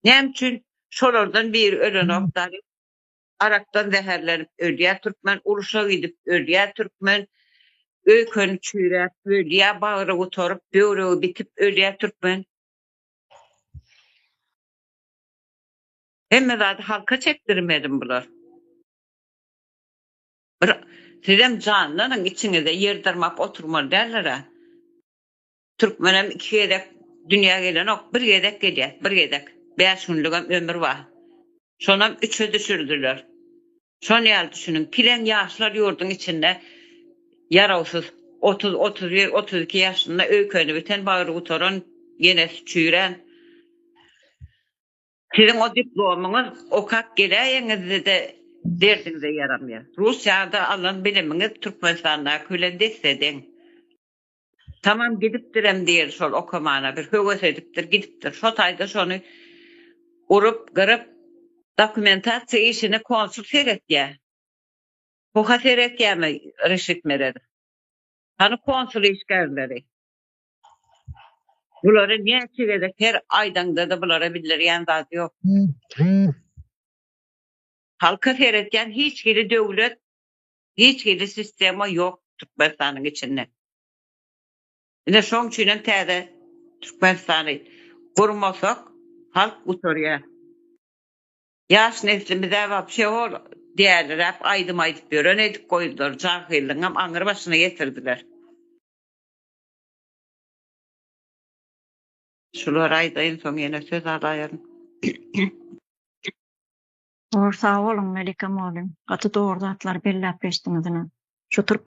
Näme üçin şolardan biri ölenok dary arakdan zäherlenip ölýär türkmen uruşa gidip ölýär türkmen öýkeni çüýräp ölýär bagry gutaryp böwregi bitip ölýär türkmen Hemme zady halka çekdirmeli bular. Bir sizem janlanyň içiňize ýer dyrmap oturmaly däldir-ä. Türkmenem iki gezek dünýä gelenok, bir gezek gelýär, bir gezek. Bäş günlügem ömür bar. Şonam üçe düşürdiler. Şon ýaly düşüniň, kileň ýaşlar ýurduň içinde ýarawsyz, otuz, otuz bir, otuz iki ýaşynda öýkeni biten, bagry gutaran, genesi çüýrän. Siziň o diplomyňyz okap geläýeňizde-de derdiňize ýaramýar. Russiýada alan bilimiňiz Türkmenistandaky bilen des-de deň. Tamam gidipdirem diýer şol okamana bir höwes edipdir gidipdir şo taýda şony urup gyryp dokumentasiýa işini konsul seretýä puha seretýämi Reşit Meredow hany konsul işgärleri bulary näçe gezek her aýdaňdada bulara bildirýän zat ýok halka seretýän hiç hili döwlet hiç hili sistema ýok Türkmenistanyň içinde. Ine şoň üçin hem täze Türkmenistany gurmasak halk gutarýar. Ýaş neslimizä wapşe hol däliräp aýdym aýdyp ýören edip goýdular, jahyllygyňam aňyr başyna getirdiler. Şulary aýdaýyn soň ýene söz alaýaryn. Gowy sag boluň Melike mugallym gaty dogry zatlary belläp geçdiňiz ine şu türk